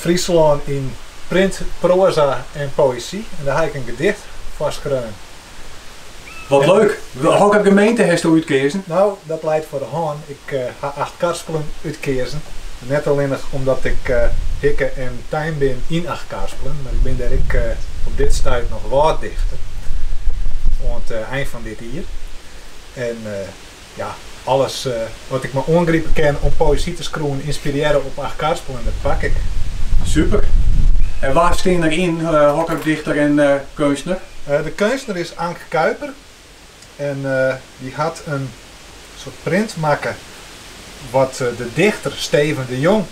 Fryslân yn print, proaza en poëzy. En dêr ha ik in gedicht foar skreaun. Wat leuk! Hokker gemeente hast do útkeazen? No, dat leit foar de hân. Ik ha Achtkarspelen útkeazen. Net allinnich omdat ik hikke en tein bin yn Achtkarspelen, mar ik bin dêr ek op dit stuit noch wâlddichter oant ein fan dit jier. Ja, alles wat ik mar oangripe kin om poëzy te skriuwen, ynspirearre op Achtkarspelen, dat pak ik. Super! En wa stean der yn, hokker dichter en keunstner? De keunstner is Anke Kuiper en dy hat in soart print makke wat de dichter Steven de Jong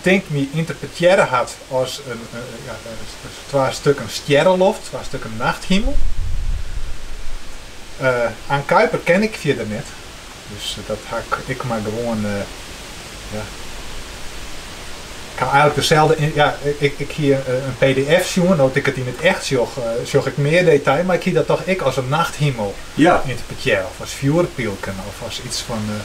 tink my ynterpretearre hat as twa stukken stjerreloft, twa stukken nachthimel. Anke Kuiper ken ik fierder net, dus dat ha ik mar gewoan. Ik haw eigenlik deselde, ja, ik hie in pdf sjoen, no't ik it yn it echt sjoch, sjoch ik mear detail, mar ik hie dat toch ek as in nachthimel ynterpretearre of as fjoerpylken of as iets fan.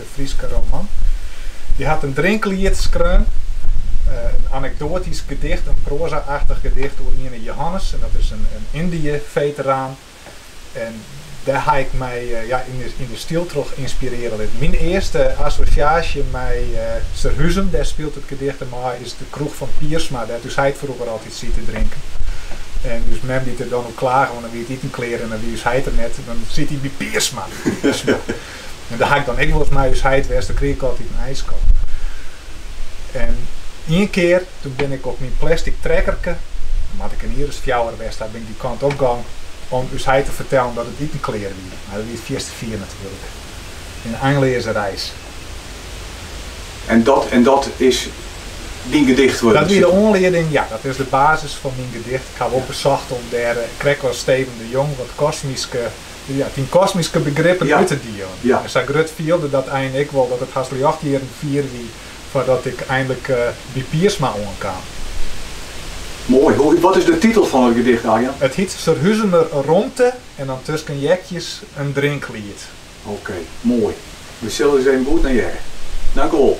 de Fryske roman. Hy hat in drinkliet skreaun, in anekdoatysk gedicht, in proaza-achtich gedicht oer iene Jehannes, en dat is in Yndië-feteraan. En dêr ha ik my ja, yn, de, yn de styl troch ynspirearje litten. Myn earste assosjaasje mei Surhuzum, dêr spilet it gedicht him ôf, is de kroech fan Piersma, dêr't ús heit froeger altyd siet te drinken. En ús mem dy't der dan oer klage, want dan wie it iten klear en dan wie ús heit der net, dan siet hy by Piersma. En dêr ha ik dan ek wolris mei ús heit west, dan krige ik altyd in ijsko. En ien kear, toen bin ik op myn plastic trekkerke, dan moat ik in jier as fjouwer west ha, bin ik dy kant op gong om ús heit te fertellen dat it iten klear wie. Mar dat wie it fierste fier natuerlik. In einleaze reis. En dat en dat is dyn gedicht wurden? Dat wie de oanlieding, ja, dat is de basis fan myn gedicht. Ik haw wol besocht om dêr, krekt as Steven de Jong, wat kosmyske, Ja, dyn kosmyske begrippen út te dielen. Ja. En sa grut fielde dat ein ek wol dat it hast ljochtjierren fier wie foardat ik einlik by Piersma oankaam. Moai. Hoe, wat is de titel fan it gedicht, Arjan? It hyt Surhuzumer romte en dan tusken heakjes in drinkliet. Oké, moai. We sille ris even goed nei hearre. Dankewol.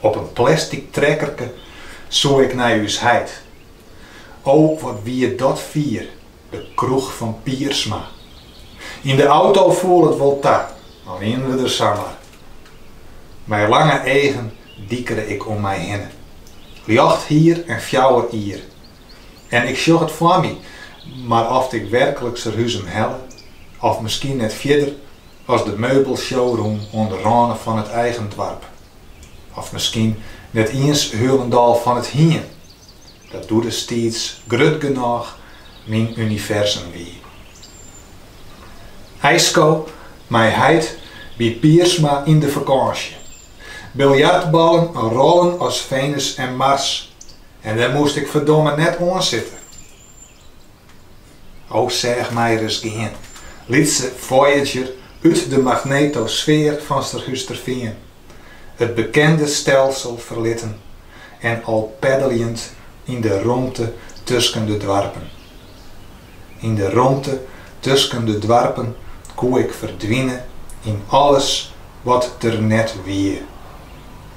Op in plastic trekkerke soe ik nei ús heit. O, wat wie dat fier, de kroech fan Piersma. Yn de auto foel it wol ta, dan wienen we der samar. Mei lange eagen dikere ik om my hinne. Ljocht hier en fjouwer jier. En ik sjoch it foar my, mar oft ik werklik Surhuzum helle, of miskien net fierder, As de meubelshowroom oan de râne fan it eigen doarp. Of miskien net iens hielendal fan it hien. Dat doe destiids grut genôch myn universum wie. Iisko mei heit by Piersma yn de fakânsje. Biljartballen rollen as Venus en Mars en dêr moast ik ferdomme net oan sitte. O sjoch my ris gean, lytse Voyager út de magnetosfear fan Surhústerfean, it bekende stelsel ferlittend en al peddeljend yn de romte tusken de doarpen. Yn de romte tusken de doarpen koe ik ferdwine yn alles wat der net wie.